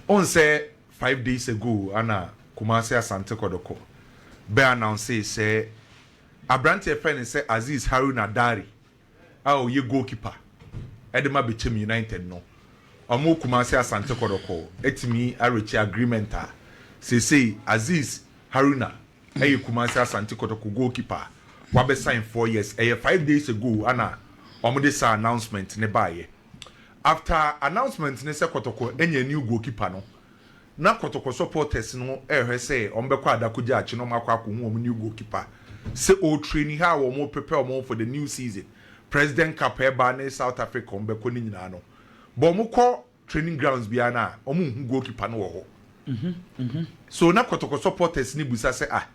Onsɛ five days ago ana Kumasi Asante Kɔdɔkɔ bɛ announcee sɛ aberanteɛ yɛfrɛ no sɛ Azeez Haruna Dare a ɔyɛ goalkeeper de ma Bechem United no, ɔmo Kumasi Asante Kɔdɔkɔ atumi areche agreement a seesei Azeez Haruna yɛ Kumasi Asante Kɔtɔkɔ goalkeeper a wabɛ sign four years. Ɛyɛ five days ago ana ɔmo de saa announcement no baeɛ. After announcement no sɛ Kɔtɔkɔ anya a new goalkeeper no, na Kɔtɔkɔ supporters no rehwɛ sɛ wɔbɛkɔ Adakogya akye na wɔakɔ akɔhu wɔn new goalkeeper sɛ ɔretraini, how wɔreprepare wɔn for the new season, President Cup a ɛreba ne South Africa a wɔbɛkɔ no nyinaa no. But wɔkɔ training grounds biara no a, wɔnhu goalkeeper no wɔ hɔ. So na Kɔtɔkɔ supporters no bisa sɛ, ah,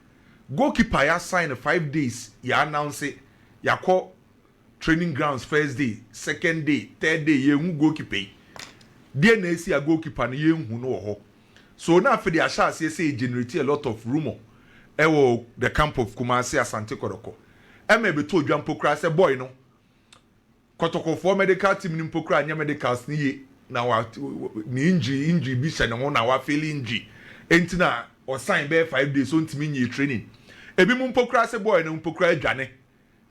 goalkeeper a yɛasan no five days, yɛannounce, yɛakɔ Training grounds first day, second day, third day yɛnhu goalkeeper yi. Deɛn na asi a goalkeeper no yɛnhu no wɔ hɔ? So na afei de ahyɛ aseɛ sɛ ɛgenerate a lot of rumour wɔ the camp of Kumasi, Asante Kɔtɔkɔ ɛma ɛbɛtɔ dwa mpo koraa sɛ boy no Kɔtɔkɔfoɔ medical team no mpo koraa nyɛ medicals no yie na wa ne injury injury bi hyɛ ne ho na wa feel injury enti na ɔsan bɛyɛ five days ɔntumi nyee training. Ebinom mpo koraa sɛ boy no mpo koraa adwane.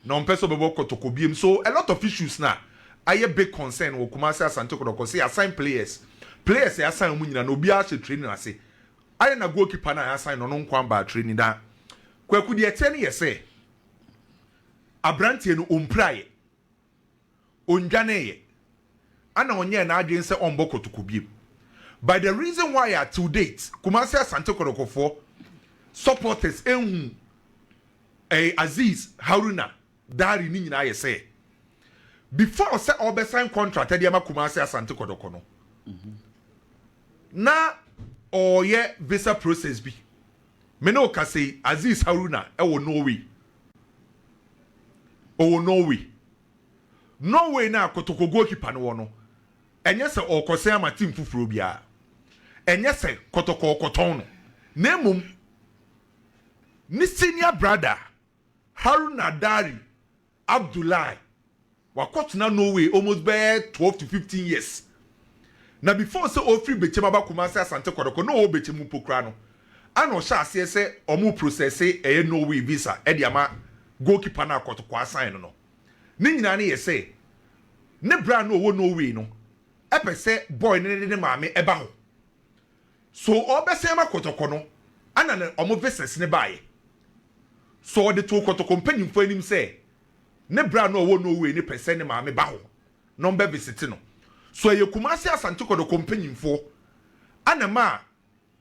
na ɔmpɛ sɛ ɔbɛbɔ kɔtɔkɔ biom so a lot of issues na ayɛ big concern wɔ Kumasi Asante Kɔtɔkɔ sɛ yɛasan players players a yɛasan ɔmo nyinaa no obiara ahyɛ training ase ayɛ na goal keeper no a yɛasan no ɔno nko ambaa training na Kwaku deɛ ɛteɛ no yɛ sɛ abranteɛ no ɔmpira yɛ. ɔndwaneeɛ ɛna ɔnyɛɛ n'adwene sɛ ɔmbɔ kɔtɔkɔ biom but the reason why a till date Kumasi Asante Kɔtɔkɔfoɔ supporters ɛnhu ɛɛ Azeez Haruna Dare ne nyinaa yɛ sɛ before sɛ ɔbɛ sign contract ɛde ama Kumasi Asante Kɔtɔkɔ no na ɔɔyɛ visa process bi. Me ne wo kasa yi, Aziz Haruna wɔ Norway. Ɔwɔ Norway. Norway no a Kotoko goalkeeper no wɔ no, ɛnyɛ sɛ ɔrekɔsɛn ama team foforɔ biara. Ɛnyɛ sɛ Kotoko rekɔtɔn no, na mmom ne senior brother Haruna Dari Abdoulaye, wakɔtena Norway almost bɛyɛ twelve to fifteen years. Na before sɛ ɔfiri Bechem aba Kumasi Asante Kɔtɔkɔ, na ɔwɔ Bechem mpo koraa no, ɛna ɔhyɛ aseɛ sɛ wɔn processe ɛyɛ Norway visa de ama goalkeeper no a Kɔtɔkɔ asan no no. Ne nyinaa no yɛ sɛ, ne berɛ a na ɔwɔ Norway no, ɛpɛ sɛ boy no ne ne maame ɛba hɔ. So ɔrebɛsan ama kɔtɔkɔ no na ne wɔn visas no baeɛ? So ɔde too kɔtɔkɔ mpanimfoɔ anim sɛ ne berɛ a na ɔwɔ Norway no pɛ sɛ ne maame ba hɔ na wɔbɛvisite no? So ɛyɛ Kumasi Asante kɔtɔkɔ mpanimfoɔ na ɛmaa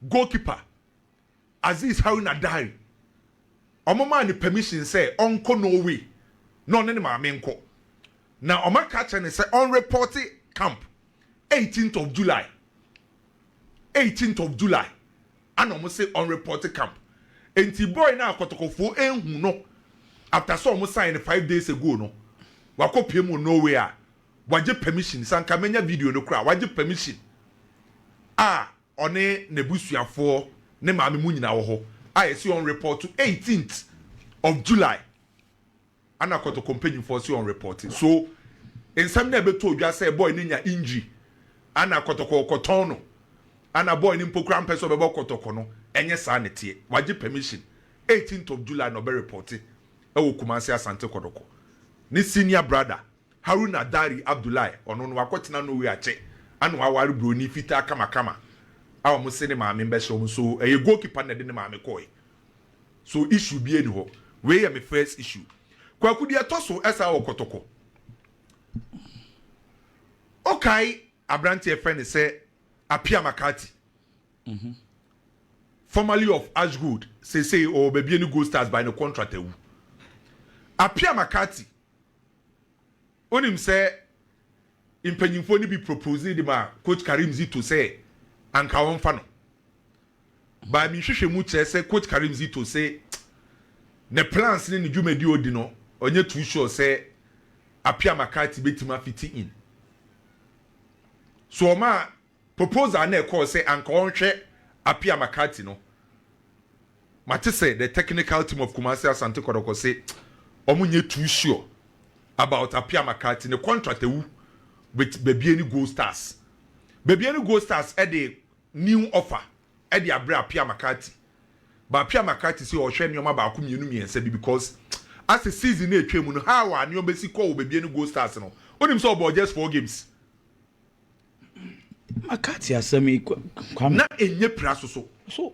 goalkeeper Aziz Haruna Dary, wɔmaa no permission sɛ ɔnkɔ Norway na ɔne ne maame nkɔ, na wɔaka akyerɛ no sɛ ɔnrepɔte camp eighteenth of July, eighteenth of July ana wɔn se ɔnrepɔte camp. Enti boy no a kɔtɔkɔfoɔ anhu no after sɛ wɔn sign no five days ago no, wakɔpiem wɔ Norway a wagye permission, sɛ anka manya video no koraa, wagye permission a, ɔne n'abusuafoɔ ne maame mu nyinaa wɔ hɔ a yɛse ɔn report 18th of July ana kɔtɔkɔ mpanyinfoɔ se ɔn report so nsɛm no a ɛbɛtɔ odwa sɛ boy no nya injury ana kɔtɔkɔ ɔkɔtɔn no ana boy no mpo koraa mpɛ sɛ ɔbɛbɔ kɔtɔkɔ no ɛnyɛ saa ne teɛ wagye permission 18th of July na ɔbɛ report ɛwɔ Kumasi Asante Kɔdɔkɔ ne senior brother Haruna Dari Abdullahi, ɔno no wakɔtena Norway akyɛ ana waware broni fitaa kamakama a wɔn se ne maame mbɛhyɛ wɔn so ɛyɛ goal keeper na ɛde ne maame kɔɔe so issue biaa ni hɔ wei yɛ me first issue Kwaku deɛ ɛtɔ so ɛsaa wɔ kɔtɔkɔ okae abranteɛ fɛ ne sɛ Apia Makati mm -hmm. formerly of Ashgold sesei ɔwɔ babie ne Gold Stars by ne contract awu Apia Makati Wonim sɛ mpanyimfoɔ no bi proposee de maa Coach Karim Zito sɛ anka ɔmfa no. But me nhwehwɛmu kyerɛ sɛ Coach Karim Zito se ne plans ne ne dwumadi odi no ɔnyɛ too sure sɛ Appiah McCarthy betumi afiti in. So ɔmaa Proposal a na ɛkɔɔ sɛ anka ɔnhwɛ Appiah McCarthy no, mate sɛ the technical team of Kumasi Asante Kɔtɔkɔ se wɔn nyɛ too sure about Appiah McCarthy. Ne contract awu with Bebiani Gold Stars. Bebiani Gold Stars de new offer de abrɛ Appiah McCarthy. But Appiah McCarthy se ɔrehwɛ nneɛma baako mmienu mmiɛnsa bi because asɛ season no a ɛtwam no how a nneɛma bɛsi kɔ wɔ Bebiani Gold Stars no, wonim sɛ ɔbɔɔ just four games. maka te asɛm yi kwame. na ɛnyɛ pira so so. so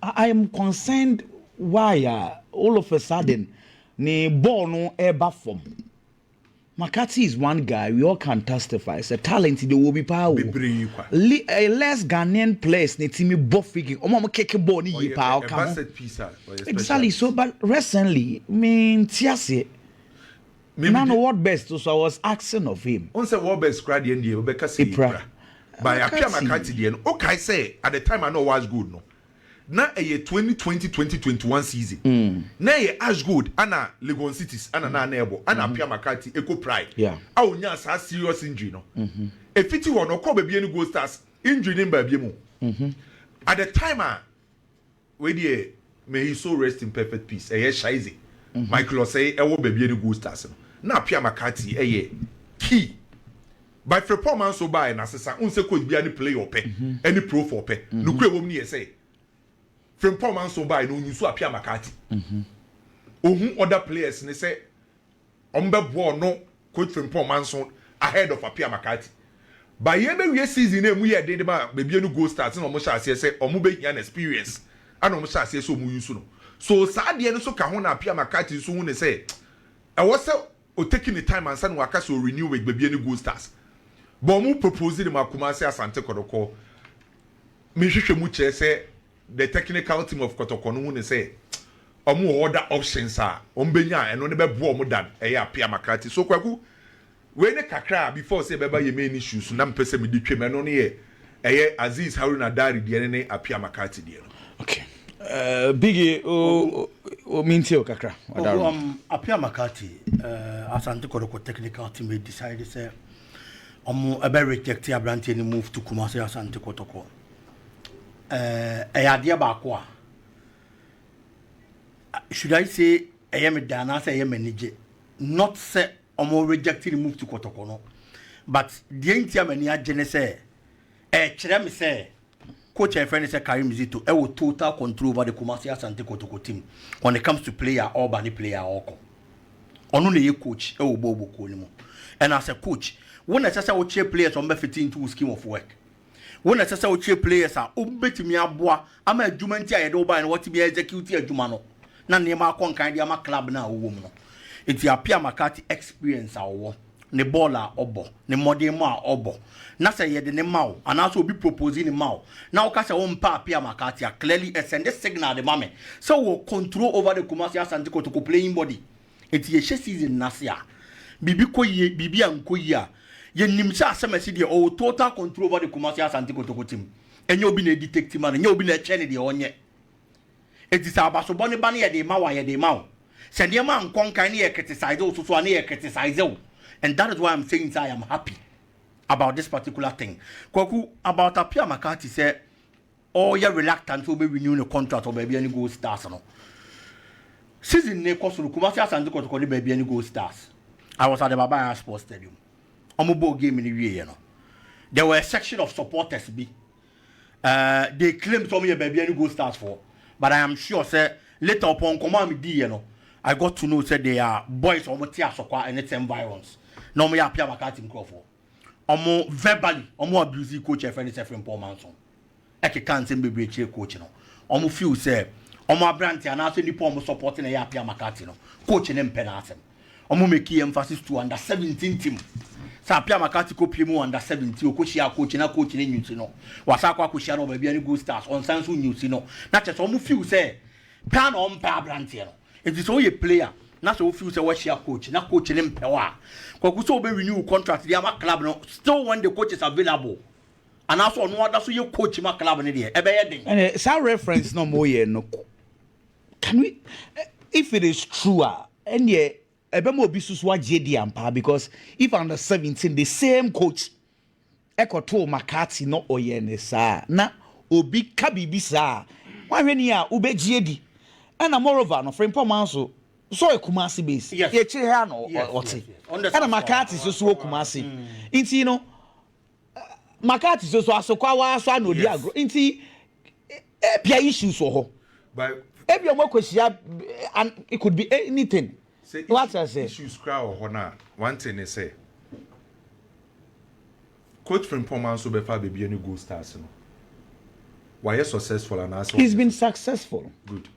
i am concerned why uh, all of a sudden ne ball no ɛba fam makati is one guy we all can testify sɛ talent de wɔ bi paa o bebree kwa Le, uh, less ghanaian players ne timi bɔ free kick ɔmo ɔmo keke ball ne yie paa ɔka ho exactly so but recently me nti aseɛ Na no word best nso I was asking of him. Wohu sɛ word best koraa deɛ ndeɛ wobɛka sɛ yɛ kura. By Appiah Makati deɛ no wokae sɛ at the time a na ɔwɔ Ash Gold no na ɛyɛ twenty twenty twenty twenty one season na ɛyɛ Ash Gold ɛna Legon Cities ɛna na na ɛbɔ ɛna Appiah Makati ɛkɔ Pride a ɔnyaa saa serious injury no ɛfiti hɔ no ɔkɔɔ baabi ɛne Gold Stars injury no mbaa biam o at the time a Wei deɛ may his soul rest in perfect peace ɛyɛ Shaize Michael Osei ɛwɔ baabi yɛde Gold Stars no na Appiah McCarty ɛyɛ key by Frimpong man so baɛ na sesa wohu sɛ coach biara ne player ɔpɛ ɛne profo ɔpɛ nokorɛ ɛwɔ mu ne yɛ sɛ Frimpong man so baɛ na ɔnyi so Appiah McCarty ɔhu other players ne sɛ Wɔbɛboa ɔno Coach Frimpong Manso ahead of Appiah McCarthy. But yɛbɛwie season no a ɛmu yɛɛ den de ma Babie no Gold Stars na wɔhyɛɛ aseɛ sɛ wɔbɛhia no experience ɛna wɔhyɛɛ aseɛ sɛ wɔn use no. So saa deɛ no nso ka ho na Appiah McCarthy nso hu no sɛ ɛwɔ sɛ ɔ take ne time ansa na waka sɛ ɔ renew with Babie no Gold Stars. But wɔn propose no ma Kumasi Asante Kɔtɔkɔ. Me nhwehwɛmu kyerɛ sɛ the technical team of Kɔtɔkɔ no hu no sɛ wɔn wɔ other options a wɔn bɛnya a ɛno no bɛboa wɔn dan ɛyɛ Appiah McCarthy. So Kwaku, wei ne kakra a before sɛ ɛbɛba yɛ main issues no na mepɛ sɛ mede twam, ɛno no yɛ ɛyɛ Azeez Haruna Dare deɛ no ne Appiah McCarthy deɛ no. Okay. Uh, Biggie, oh, oh, me ntie o kakra. Ɔdaro. Oh, um, Appiah McCarthy, uh, Asante Kɔtɔkɔ technical team decide sɛ wɔn ɛbɛ reject aberanteɛ no move to Kumasi Asante Kɔtɔkɔ. eh, ɛyɛ adeɛ baako a should I say ɛyɛ me dɛ anaasɛ ɛyɛ m'anigye not sɛ ɔmo reject ne mufti kɔtɔkɔ no but deɛ nti a m'ani agye ne sɛ ɛkyerɛ me sɛ coach a yɛfrɛ no sɛ Karim Zito ɛwɔ total control over the Kumasi Asante Kotoko team when it comes to player ɔba ne player ɔkɔ ɔno na ɛyɛ coach ɛwɔ bɔɔlbɔ kuo no mu ɛna sɛ coach wo na ɛsɛ sɛ wokyerɛ players ɔmbɛfiti into wo scheme of work Wo na ɛsɛ sɛ wokyerɛ players a wobetumi aboa ama adwuma nti a yɛde wo bae no wɔatumi a execute adwuma no na nneɛma akɔ nkan de ama club no a wowɔ mu no. Enti Appiah McCarthy experience a ɔwɔ, ne bɔɔl a ɔbɔ, ne mmɔdenmɔ a ɔbɔ, na sɛ yɛde no ma wo anaasɛ obi propose no ma wo na woka sɛ wompɛ Appiah McCarthy a, clearly ɛsɛnde signal de ma me sɛ wowɔ control over the Kumasi Asante Kotoko playing body. Enti yɛhyɛ season no ase a, biribi kɔ yie, biribi ankɔ yie a, yɛnim sɛ Asɛmasi deɛ ɔwɔ total control over the Kumasi Asante Kotoko team. Ɛnyɛ obi na ɛdetect ma no, ɛnyɛ obi na ɛkyerɛ no deɛ ɔnyɛ. Enti sɛ abasobɔ no ba no yɛde ma wo a, yɛde ma wo. Sɛ nneɛma ankɔ nkan na yɛ criticize wo so so a, na yɛ criticize wo. And that is why I'm saying sɛ I am happy about this particular thing. Kwaku, about Appiah McCarthy sɛ, ɔyɛ reluctant sɛ ɔbɛ renew ne contract wɔ baabi a ne Gold Stars no. Season no rekɔ so no, Kumasi Asante Kɔtɔkɔ ne baabi a ne Gold Stars. I was at the Baba Yara Sports Stadium. Wɔn bɔɔ game no wieɛ no, there were a section of supporters bi. Uh, they claim sɛ wɔn yɛ baabi a ne Gold Stars foɔ. But I am sure sɛ later upon nkɔmɔ a mediiɛ no, I got to know sɛ they are boys a wɔn te Asɔkwa ɛne Tsɛm Virons na wɔn yɛ Apia Makati nkurɔfoɔ. Ɔmo verbally ɔmo abusii coach a yɛfrɛ no sɛ Frimpong Manson. Ɛkekaa nsɛm bebree kyerɛɛ coach no. Ɔmo feel sɛ ɔmo aberante anaasɛ nipa a ɔmo support na ɛyɛ Appiah McCarthy no, coach no mpɛ n'asɛm. Ɔmo makee emphasis to under seventeen team. Sɛ Appiah McCarthy kɔ pie mu wɔ under seventeen, ɔkɔhyiaa coach na coach no nyusi no. Wasan akɔ akɔhyia no wɔ baabi a ne Gold Stars, ɔnsan nso nyusi no. Na kyerɛ sɛ ɔmo feel sɛ paa na ɔmpɛ aberanteɛ no. Enti sɛ woyɛ player na sɛ wo feel sɛ woahyia coach na coach no mpɛ wo a, Kwaku sɛ wobɛ renew wo contract de ama club no still when the coach is available anaa sɛ ɔno ada so yɛ coach ma club no deɛ ɛbɛyɛ den. Ɛnɛ saa reference na ɔmo yɛ no can we if it is true a ɛnneɛ ɛbɛma obi susu agye adi ampa because if under seventeen the same coach. ɛkɔtoo McCarthy na ɔyɛɛ no saa a, na obi ka biribi saa a, woanhwɛ ni a wobɛgye adi. Ɛna moreover no, Frimpong Manso nso ɔyɛ Kumasi based, akyire ha na ɔte. Ɛna McCarthy nso so wɔ Kumasi. Nti no, McCarthy nso so Asokwawa ara so ara na ɔdi agorɔ. Nti ebia issues wɔ hɔ. Ebia wɔakɔhyia, it could be anything. Sɛ issues koraa wɔ hɔ no a, one thing ne sɛ, Coach Frimpongman nso bɛfa baabi ne Gold Stars no. Wayɛ successful anaasɛ wanyɛ? He's been successful. Good.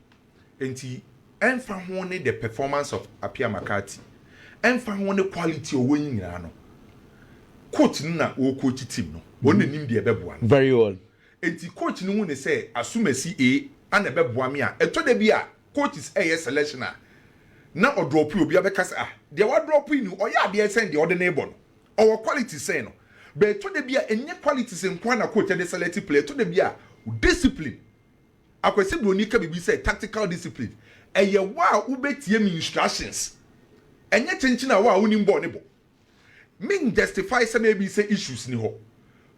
Enti ɛmfa ho ne the performance of Appiah McCarthy, ɛmfa ho ne quality a ɔwɔ yi nyinaa no, coach no na ɔrecoach team no. Ɔno na ɛnim deɛ ɛbɛboa no. Very well. Enti coach no hu ne sɛ, Asumasi A na ɛbɛboa me a, ɛtɔ da bi a, coaches reyɛ selection a, na ɔdrɔpo yi, obi abɛka sɛ ah, deɛ wadrɔpo yi ni, ɔyɛ adeɛ sɛn deɛ ɔde no rebɔ no? Ɔwɔ qualities sɛn no? But ɛtɔ da bi a, ɛnyɛ qualities nko ara na coach de select player, ɛtɔ da bi a, discipline. Akwasi Broni ka biribi sɛ tactical discipline, ɛyɛ wo a wobɛtie me instructions, ɛnyɛ kyenkyen a wo a wonim bɔɔl no bɔ. Ming justify sɛ na ebi sɛ issues ni hɔ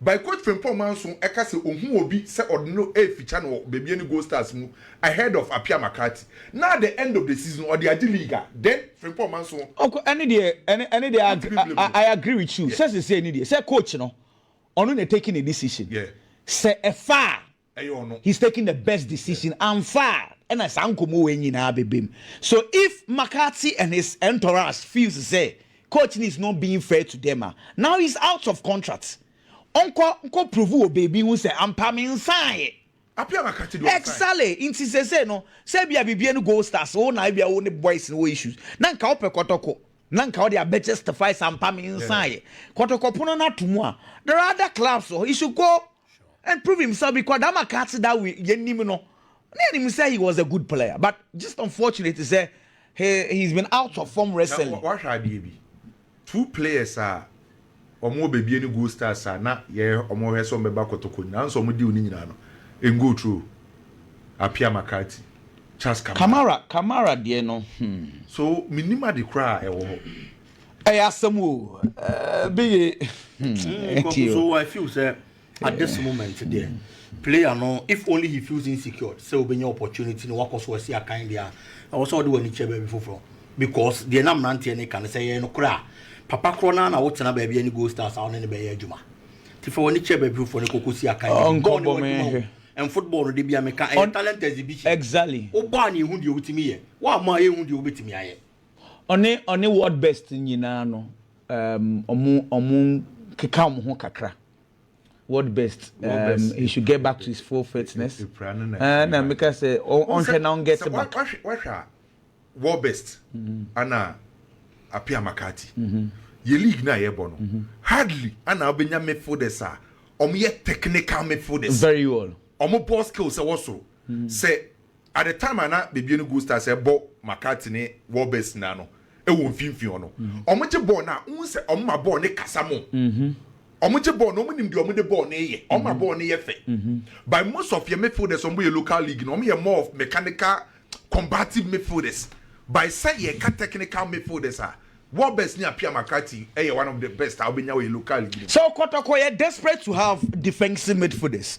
by Coach Frimpong Manso ɛka sɛ ohu obi sɛ ɔde no refikya no wɔ baabi ɛne Gold Stars mu ahead of Appiah McCarthy na at the end of the season ɔde agye league a then Frimpong Manso Ɔkɔ ɛne deɛ ɛne ɛne deɛ I ntumi blame no. I agree with you sɛ Yeah. sesei ni deɛ sɛ coach no ɔno na taking a decision Yeah. sɛ ɛfa a ɛyɛ ɔno. He's taking the best decision amfa a ɛna saa nkɔmmɔ wei nyinaa bɛbam. So if McCarthy and his entourage feels sɛ coach no is not being fair to them a, now he's out of contract. Ɔnkɔ nkɔ prove wɔ baabi hu sɛ ampa me nsaeɛ. Appiah McCarthy deɛ ɔnsae. Exactly, nti seesei no sɛ ebia biribiara ne Gold Stars wo na ebia wo ne boys no wɔ issues na nka wopɛ kɔtɔkɔ na nka wode abɛ justify sɛ ampa me nsaeɛ. Kɔtɔkɔ pono no ato mu a there are other clubs wɔ hɔ, he should go and prove himself because that Makati that we yenim no na yenim say he was a good player but just unfortunate sɛ he he's been out of form recently. Na wahwɛ adeɛ bi two players a wɔn wɔ baabi ɛne goal stars a na yɛ wɔn hwɛ sɛ wɔn bɛba kɔtɔkɔ nyinaa nso wɔn deal ne nyinaa no ɛngo true Apia Makati Charles Kamara. Kamara Kamara deɛ no hmm. So menim ade koraa a ɛwɔ hɔ. ɛyɛ asɛm o bi ye nti o. so i feel sɛ at this moment deɛ player no if only he feels insecure sɛ wobɛnya opportunity no wakɔ so asi akan deɛ a ɛwɔ sɛ wode w'ani kyɛ baabi foforɔ because deɛ na mmeranteɛ ne ka no sɛ yɛyɛ no korɔ a papa korɔ no a na wotena baabi ɛne goal stars a wone ne bɛyɛ adwuma nti fa w'ani kyɛ baabi foforɔ no kɔkɔ si akan bɔɔ ne wadwuma o and football no de bia meka ɛyɛ talent exhibition exactly wobɔ a ne ɛhu deɛ wotumi yɛ woamɔ a yɛhu deɛ wobɛtumi ayɛ Ɔne ɔne world best nyinaa no um, ɔmo ɔmo keka ɔmo ho kakra. World best, um, he should get back to his full fitness. Eh, na meka sɛ ɔnhwɛ na ɔnget back. Wahwɛ a world best mm-hmm. ana apia makati. Mm-hmm. Yɛ league na yɛbɔ no mm-hmm. hardly ana ɔbɛnya midfielders a ɔmo yɛ technical midfielders. Very well. Ɔmo ball skills ɛwɔ soro. Sɛ At the time a na bebue no Gold Stars ɛbɔ McCarthy ne Warbears nyinaa no ɛwɔ mfimfini hɔ no, wɔn gye bɔɔl no a wohu sɛ wɔn ma bɔɔl no kasa mo. Wɔn gye bɔɔl no, wɔn nim deɛ wɔn de bɔɔl no reyɛ, wɔn ma bɔɔl no yɛ fɛ. But most of yɛn midfielders wɔn bɔ yɛn local league no, wɔn yɛ more of mechanical combative midfielders. But sɛ yɛka technical midfielders a, Warbears ne Appiah McCarthy ɛyɛ one of the best a wobɛnya wɔ yɛn local league no mu. So Kotoko yɛ desperate to have defensive midfielders.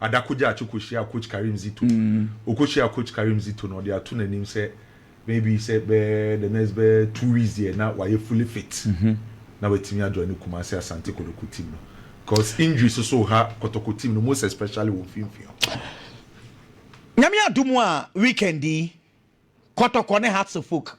Ada Kogyakye kɔhyiaa Coach Karim Zito. Ɔkɔhyiaa Coach Karim Zito no, ɔde ato n'anim sɛ maybe sɛ bɛyɛ the next bɛyɛ two weeks deɛ na wayɛ fully fit na watumi ajoine Kumasi Asante Kotoko team no because injuries nso reha Kotoko team no most especially wɔn mfimfini hɔ. Nyame adom a weekend yi Kotoko ne Hearts of Oak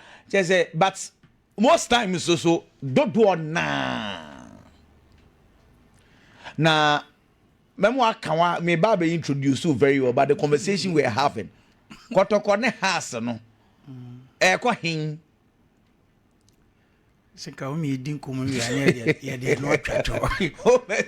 Kyerɛ sɛ, but most times nso dodoɔ naa na mɛmo aka wa me ba bɛ introduce you very well but the conversation we are having kɔtɔkɔ ne has no ɛkɔ hen sɛ ka wo mmiɛdi nkɔmmɔ wie a ne yɛde ɛno atwa to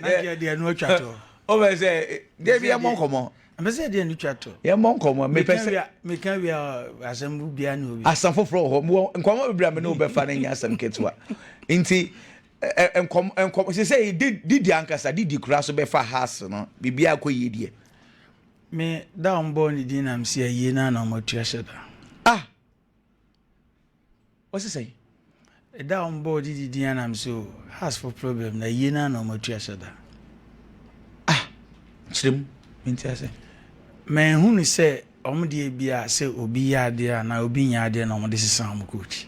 na yɛde ɛno atwa to wobɛ sɛ deɛ bi yɛmmɔ nkɔmmɔ mɛ sɛ deɛ no twa to yɛmmɔ nkɔmmɔ mepɛ sɛ meka wie a asɛm bia ne obi asɛm foforɔ wɔ hɔ mewɔ nkɔmmɔ bebree a me ne wobɛfa no nyɛ asɛm ketewa nti nkɔm nkɔm sɛ sɛ didi ankasa didi kura so bɛfa house no biribi akɔ yie deɛ me da ɔmbɔɔ ne din nam sɛ ayie no ana ɔmatua hyɛ da ah Ɔse sɛn? Ɛda a wɔbɔɔ didi din anam so hasfo problem na yie naa na wɔn atu ahyɛ da. Ah, kyerɛ mu, menti ase. Mɛnhunu sɛ wɔn deɛ bi a sɛ obi yɛ adeɛ a na obi nyɛ adeɛ na wɔn de sesa wɔn coach.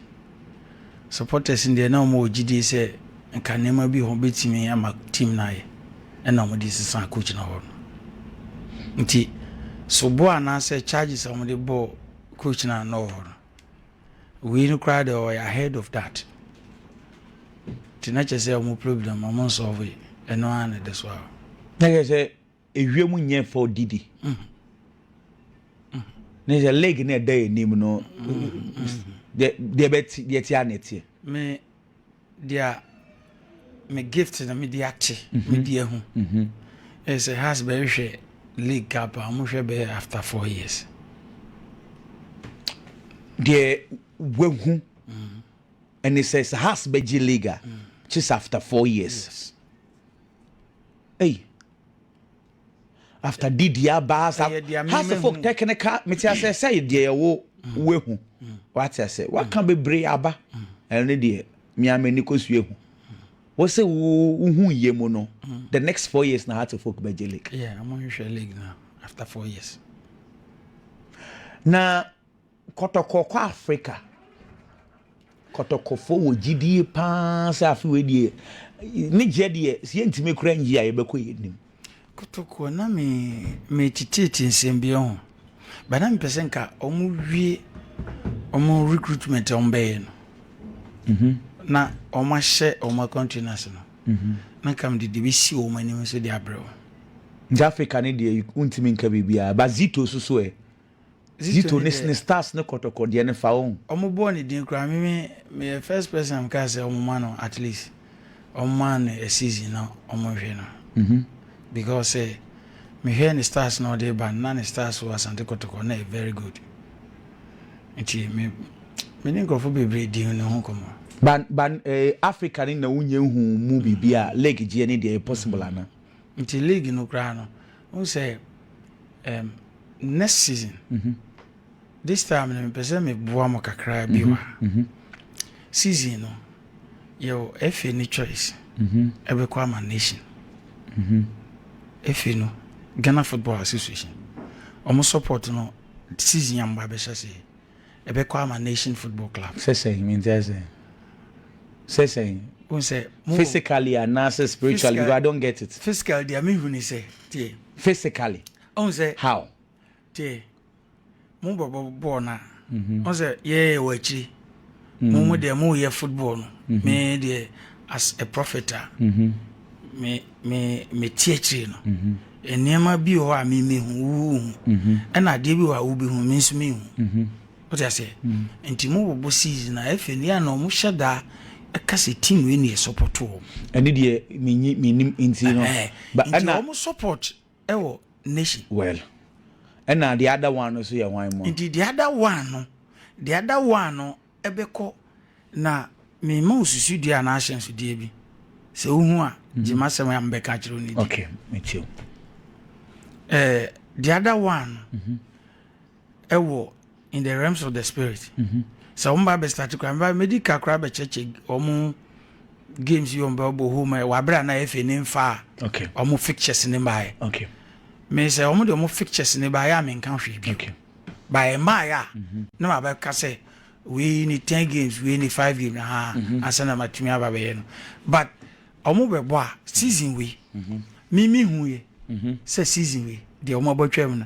Supporters no deɛ na wɔn wɔ gyidie sɛ nka nneɛma bi wɔn bɛtumi ama team no ayɛ ɛna wɔn de sesa coach no hɔ no. Nti sobo anaasɛ charges a wɔn de bɔɔ kɔgyinaa no wɔ hɔ no, wei no koraa deɛ ɔyɛ ahead of that nti na kyerɛ sɛ ɔmo problem ɔmo nsɔɔve ɛno ara na ɛda so a. na kyerɛ sɛ ewia mu nyɛ fɛ ɔdidi ne sɛ leg na ɛda yɛ anim no deɛ deɛ bɛte deɛ te a na ɛteɛ. deɛ me gift na mede ate mhm. mede ahu mhm. ɛsɛ has bɛhwɛ league cup a wɔhwɛ bɛyɛ after four years deɛ wahu mm. ɛne sɛ sɛ has bɛgye league a mm. kyes after four years ei after didi aba asa how say folk technical mete ase sɛ deɛ yɛwo mm. woahu mm. wate ase waka mm. bebree aba ɛno ne deɛ mea m'ani kɔsua hu wɔ sɛ wohu yie mu no the next four years na heart of folk bɛgye lake yeah, I'm on your league now after four years na Kɔtɔkɔ kɔ Afrika. Kɔtɔkɔfoɔ wɔ gyidie pa ara sɛ afe wei deɛ ne gyeɛ deɛ sɛ yɛntumi kora ngye a yɛbɛkɔ yɛn nim. Kɔtɔkɔ na me me tititi nsɛm bi ho ba na mepɛ sɛ nka wɔn wie wɔn recruitment a wɔn bɛyɛ no mhm. na wɔn ahyɛ wɔn akwantu no ase no mhm. na nka mede de bɛsi wɔn anim nso de abrɛ wɔn. Nti Africa ne deɛ wontumi nka biribiara ba zito so so ɛ Zito ne sne stars ne kɔtɔkɔ deɛ no fa ohu. Ɔmo bɔɔ ne din koraa me me meyɛ first person a mekaa sɛ ɔmo ma no at least ɔmo ma no a season na ɔmo nhwɛ no because sɛ mehwɛ ne stars na ɔde ba no na ne stars wɔ Asante Kɔtɔkɔ na ɛyɛ very good nti me me ne nkorɔfo bebree di ne ho kɔmɔ. Ban ban eh, Africa ne na wonya hu mu biribi a league gyeɛ ne deɛ ɛyɛ possible anaa? Nti league no koraa no Wohu sɛ um, next season, mm -hmm. this time no mepɛ sɛ meboa mo kakraa bi mm-hmm. wa mm-hmm. season no yɛwɔ efe ne choice mm-hmm. ɛbɛkɔ mm -hmm. ama nation mm -hmm. efe no Ghana Football Association ɔmo support no season a mba bɛhyɛ seɛ ɛbɛkɔ ama Nation Football Club. Sɛ sɛn? Mente ase. Sɛ sɛn? Wohu sɛ mo. Physically anaasɛ spiritually? Because I don't get it. Physically deɛ mehu ne sɛ, tie. Physically? Wohu sɛ. How? Tie, mo bɔbɔ bɔɔl no a, wohu sɛ yɛyɛ wɔ akyiri. mo mo deɛ mo yɛ football no me deɛ as a prophet a me me me ti akyire no nneɛma bi wɔ hɔ a me me hu wo hu ɛna adeɛ bi wɔ hɔ a wo bi hu me nso me hu o ti aseɛ nti mo bɔ bɔ season na efe ne yɛ na wɔn hyɛ daa ɛka sɛ team wei na yɛ support wɔn. ɛne deɛ menyi menim nti no nti wɔn support. wɔ n'akyi. Well, ɛna the other one no so yɛ hwan mu a? Nti the other one no, the other one no bɛkɔ na mema wo susudua anaa ahyɛnsodeɛ bi. Sɛ wohu a, mhm. gye m'asɛm a mebɛka akyerɛ wo no di. Okay, metie. Eh, the other one no, mhm. ɛwɔ in the realms of the spirit mhm. sɛ wɔn ba bɛ start kura mɛ mɛdi kakra bɛ kyɛkyɛ wɔn games yi wɔn bɛ bɔ home ɛ wabere a na yɛ fɛ ne nfa wɔn fixtures ne ba yɛ mɛ sɛ wɔn de wɔn fixtures ne ba yɛ a mɛ nka hwɛ bi ba yɛ mmaa yɛ a mhm. na ma bɛ ka sɛ wei ni ten games wei ni five games ha mhm. ansa na ma tumi aba bɛ yɛ no but wɔn bɛ bɔ a season wei mimi hu yɛ sɛ season wei deɛ wɔn abɔ twɛ mu no.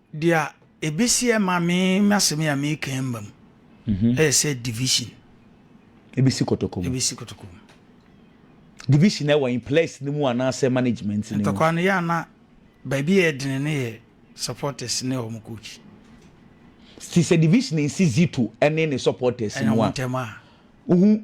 Dea ebesi ɛma me m'asɛm yi a mereka yi mma mu, ɛyɛ sɛ division. Ebesi kotoko mu. Ebesi kotoko mu. Division na ɛwɔ in players no mu anaasɛ management no mu. Ntɔkwa no yɛ a na baabi a ɛdene no yɛ supporters ne wɔn coach. Ti sɛ division nsi Zito ɛne ne supporters no a. Ɛna wɔn ntɛm a. Wohu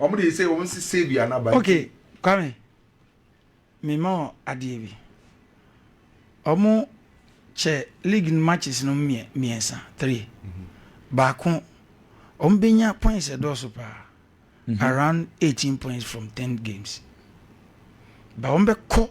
Ɔmo deɛ sɛ ɔmo si sɛ dua n'aba nti. Okay Kwame, me ma wo adeɛ bi. Ɔmo kyɛ league no matches no mmiɛnsa, three. Baako, ɔmo bɛnya points ɛdɔɔso paa, around eighteen points from ten games. But ɔmo bɛkɔ.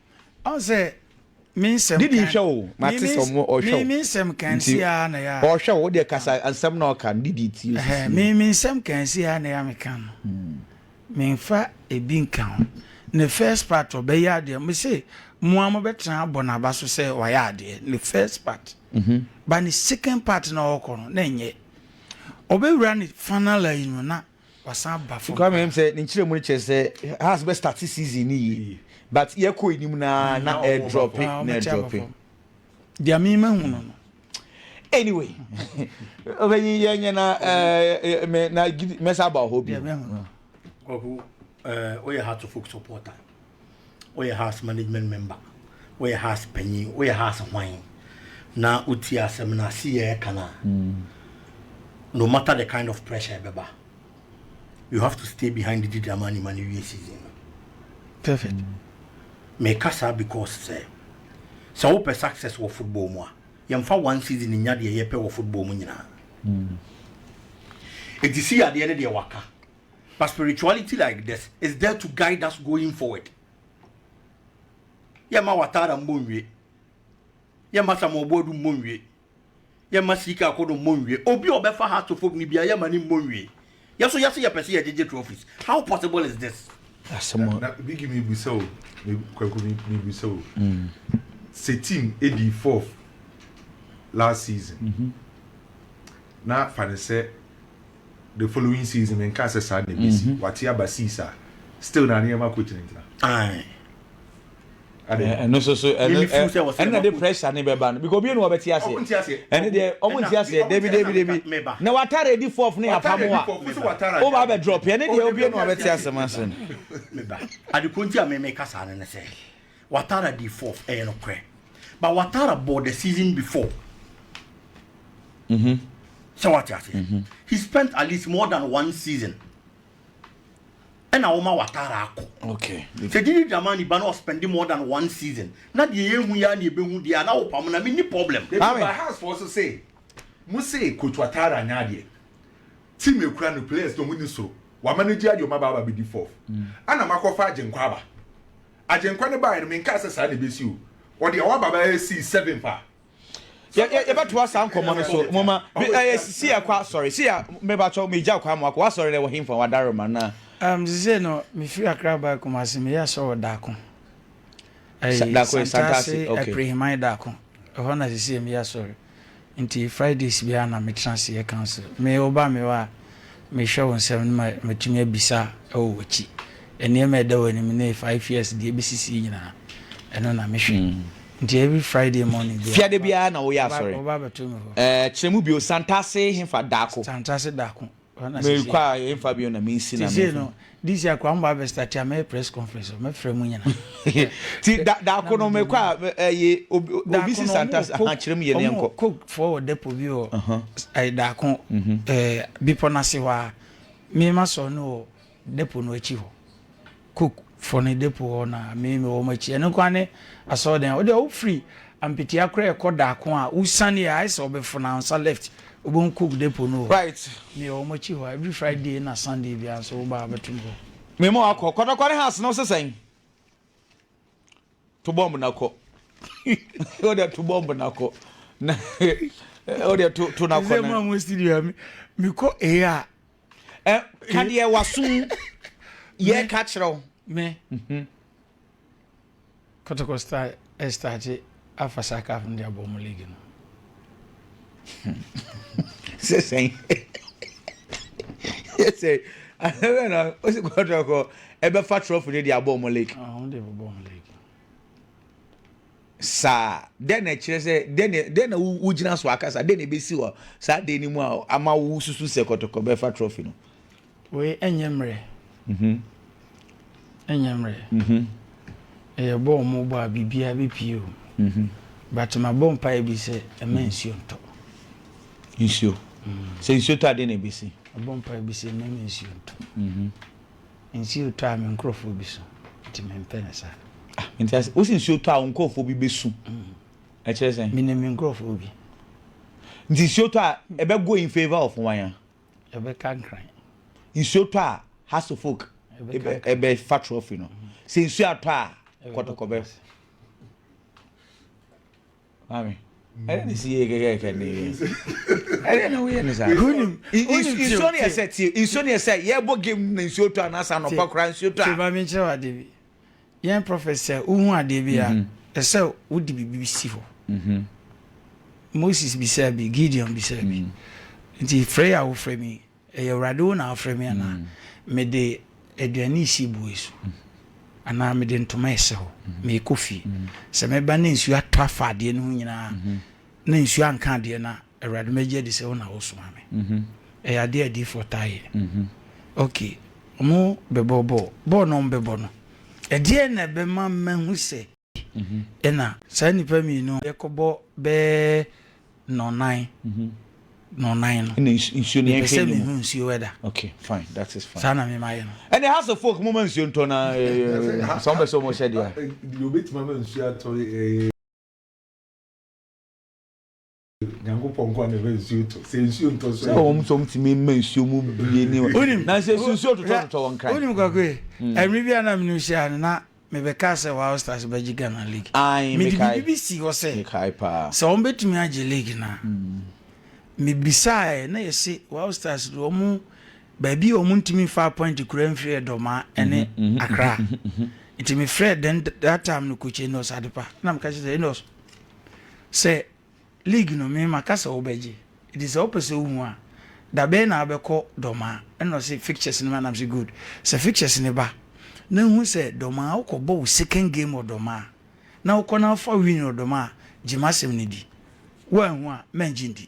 Ɔn sɛ me nsɛm kan. Didi hwɛ o, ma te sɛ ɔmo ɔhwɛ o. Me me nsɛm kan si a na ya. Ɔhwɛ o, ɔdeɛ kasa nsɛm na ɔka no didi ti o sisi. Me me nsɛm kan si a na ya me kan no. Me nfa ebi nka ho. Ne first part ɔbɛyɛ adeɛ me se mo a mo bɛ tena abɔ na ba so sɛ wayɛ adeɛ ne first part. Ba ne second part na ɔkɔ no na nyɛ. Ɔbɛ wura ne fanala yi no na. wasan ba fam. Nkoa mɛm sɛ ne nkyerɛmu no kyerɛ sɛ Hearts bɛ start season no yie but yɛkɔ anim no ara na ɛdrɔpe na ɛdrɔpe. Deɛ me mahu no no. Anyway, ɔbɛnyi yɛ nyɛ na ɛɛ mɛ na mɛsa aba hɔ bi. Deɛ mɛhu no. Kwaku, uh, oh yeah, Hearts of Oak supporter. Woyɛ house management member, woyɛ house panyin, woyɛ house hwan, na wotie asɛm no ase yɛ ɛka no a, no matter the kind of pressure ɛbɛba, you have to stay behind di drama no ma no wie season no. Perfect. Meka saa because sɛ sɛ wopɛ success wɔ football mu a, yɛmfa one season nnya deɛ yɛpɛ wɔ football mu nyinaa. Enti si yadeɛ ne deɛ waka. But spirituality like this is there to guide us going forward. Yɛma watara mmɔ nwie. Yɛma samoboadu mmɔ nwie. Yɛma sika akodo mmɔ nwie. Obi a ɔbɛfa heartophobe no bia yɛma ne mmɔ nwie. Yɛ so yɛse yɛpɛ sɛ yɛgyegye trophies. How possible is this? Asɛm a. Na Biggie mebisa o, Kwaku mebisa o, sɛ team dii fourth last season na fa no sɛ the following season menkaa sɛ saa na ɛbɛsi wate aba sees a still na nneɛma kɔ gyinagyina ɛno so so ɛna de pressure ne bɛba no because obi enu ɔbɛte aseɛ ɛne deɛ ɔmo nte aseɛ debi debi debi na watare edi fɔf ne yapa mu a ɔba abɛ drop ɛne deɛ obi enu ɔbɛte aseɛ ma se no. adekunti a mɛmɛ kasa ne ne sɛ. Watara dii fourth, ɛyɛ nokorɛ. But Watara bɔɔ the season before. Sɛ wate aseɛ? He spent at least more than one season. Ɛna wɔma Watara akɔ. Okay. Sɛ Didi Dramani ba na ɔspɛndi more than one season, na deɛ yɛhu yi ara na yɛbɛhu deɛ a, na wopam no a, menni problem. Ebi ba Hearts foɔ so se, mo se Coach Watara anyɛ adeɛ. Team a ekura no, players no, ɔmo nni soro. Wamanage adeɛ, ɔmo aba abɛdi fourth. Ɛna moakɔfa Agyenkwa aba. Agyenkwa no baeɛ no, menkaa sɛ saa na ɛbɛsi o. Ɔde Awɔ Aba bɛyɛ Sees Seven fa. Yɛbɛtoa saa nkɔmmɔ no so. Moma, ɛyɛ si yɛ kwa, sɔre. Si yɛ, mebakyɛw, megya kwa mo akɔ. Wasɔre no ɛwɔ he fa? Wadare ma na. Um, sisei no, mefiri Accra bae Kumasi, meyɛ asɔre wɔ Daako. Ɛyi, Santase, Santase, okay. Apreheman Daako. Ɛhɔ na sisei meyɛ asɔre. Nti Fridays biara na metena ase yɛ counsel. Me woba me hɔ a, mehwɛ wo nsɛm no ma matumi abisa wɔ w'akyi. Nneɛma a ɛda w'anim ne five years deɛ ɛbɛsisi nyinaa, ɛno na mehwɛ. Nti every Friday morning biara. Fiada biara na woyɛ asɔre? Woba abɛto me hɔ. Ɛɛ, kyerɛ mu bio, Santase hefa Daako? Santase Daako. Merekɔ a yɛmfa bio na mensi na menfa. no this year koraa mobaa bɛ start a mɛyɛ press conference o mɛfrɛ mu nyina. Ti da daako no mekɔ a ɛyɛ obi obi si santa ha kyerɛ mu yɛ ne nkɔ. Coke foɔ wɔ depot bi wɔ ɛyɛ daako ɛɛ bepɔ n'ase hɔ a mema sɔ no wɔ Depo no akyi hɔ. Cook fo no depo hɔ na me mewɔ wɔn akyi. Ɛno nko ara ne asɔrdan a. Wo deɛ wofiri Ampetia koraa ɛkɔ Daako a, wosiane yɛ a, ayɛ sɛ wobɛfono ansa left, wobɛhu Cook depo no wɔ hɔ. Right. Meyɛ wɔn akyi hɔ every Friday na Sunday biara nso woba a wobɛto me hɔ. Me ma wakɔ. Kwatakwane House no wo se sɛn? To bɔmb na kɔ. Wo deɛ to bɔmb na kɔ. Na wo deɛ to to na kɔ. Ɛsɛ mu a mo studio mi mi kɔ ee a. Ɛ ka deɛ waso mu yɛ ka kyerɛ wo. Mɛ. Mhm. Kɔtɔkɔ star ɛstargye afa saa kaf no de abɔ mo league no. sɛ sɛn yɛ sɛ ahɛrɛ na o si kɔ tɔ kɔ ɛbɛ fa trɔfo ne de abɔ ɔmo lake. ɔmo de bɔ ɔmo lake. saa dɛn na ɛkyerɛ sɛ dɛn na dɛn na wo gyina so akasa dɛn na ebesi wɔ saa de ne mu a ama wo susu sɛ kɔtɔkɔ bɛfa trɔfo no. Wei ɛnyɛ mmerɛ ɛnyɛ mmerɛ ɛyɛ bɔ a wɔbɔ a biribiara bɛpie o but mabɔ mpaeɛ bi sɛ ɛma nsuo ntɔ nsuo sɛ nsuo tɔ adeɛ na ɛbɛsi mabɔ mpaeɛ bi sɛ ɛma nsuo ntɔ nsuo tɔ a me nkurɔfoɔ bi so nti mempɛ no saa ah, nti asɛ wosi nsuo tɔ a wo nkurɔfoɔ bi bɛsu ɛkyerɛ sɛn menim me nkurɔfoɔ bi nti nsuo tɔ a ɛbɛgo in favor of wanya Ɛbɛka nkran. Nsuo tɔ a, Hasselflug bɛfa trophy no. Sɛ nsuo atɔ a, kɔtɔkɔ bɛ. Maame, ɛdɛ ne si yɛ kɛkɛkɛ ne yɛ. Ɛdɛ na woyɛ ne saa. Wonim, nsuo ne yɛ sɛ tie, nsuo ne yɛ sɛ yɛbɔ game na nsuo tɔ a, na sɛ anɔpa koraa nsuo tɔ a. Te maame nkyerɛ wo ade bi. Yɛn prɔfɛt sɛ wohu adeɛ bi a, ɛsɛ sɛ wode biribi si hɔ. Moses bisaa bi, Gideon bisaa bi. Nti frɛ yi a wofrɛ me yi, ɛyɛ Awurade wo na wofrɛ me anaa? Mede aduane resi boɔ yi so anaa mede ntoma resi hɔ? Merekɔ fie. Sɛ meba na nsuo atɔ afa adeɛ no ho nyinaa a, na nsuo anka adeɛ no a, Awurade mɛgye adi sɛ wo na wosomaa me. Ɛyɛ adeɛ a adiyifoɔ taa yɛ. Ok, wɔbɛbɔ bɔɔl. Bɔɔl no a wɔbɛbɔ no, ɛdeɛn na ɛbɛma mahu sɛ ɛna saa nnipa mmienu yɛkɔbɔ bɛyɛ nnɔnnan, nnɔnnan no, mepɛ sɛ mehu nsuo wɛda. Saa na memayɛ no. Ɛnna House of Folk momma nsuo ntɔ na sɛ wɔbɛ sɛ wɔhyɛ deɛ a. Deɛ ɔbɛtumi ama nsuo atɔ. nyankopɔn nkoa na ɛbɛ nsuo tɔ sɛ nsuo ntɔ so sɛ wɔn nso wɔn tumi mma nsuo mu bie ne wɔn na sɛ nsuo totɔ totɔ wɔn kran wonim kwako yi hmm. ɛmiri bi a na mene hyia no na mebɛka sɛ wɔn stars bɛgye ghana league mede biribi bi si hɔ sɛ sɛ wɔn bɛtumi agye league na hmm. mebisaeɛ na yɛse wɔn stars de wɔn baabi a wɔntumi mfa appoint kura mfiri Ɛdɔma ne Accra. Nti mefrɛ then that time no coach Enos Adepa na meka kyerɛ sɛ Enos sɛ league no me maka sɛ wobɛgye nti sɛ wopɛ sɛ wohu a da bɛyɛ na wobɛkɔ Dɔma ɛna ɔse fixtures no ma nam sɛ good sɛ fixtures no ba na hu sɛ Dɔma wokɔbɔ wo second game wɔ Dɔma a na wokɔ na wofa win wɔ Dɔma a gye m'asɛm no di woanhu a mangye ndi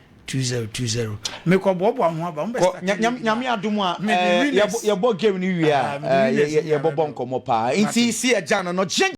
Two zero two zero mekɔ boaboa ho aba mo bɛ start nya nyame adom a yɛbɔ game no wie a yɛbɔbɔ nkɔmmɔ paa nti si agya no no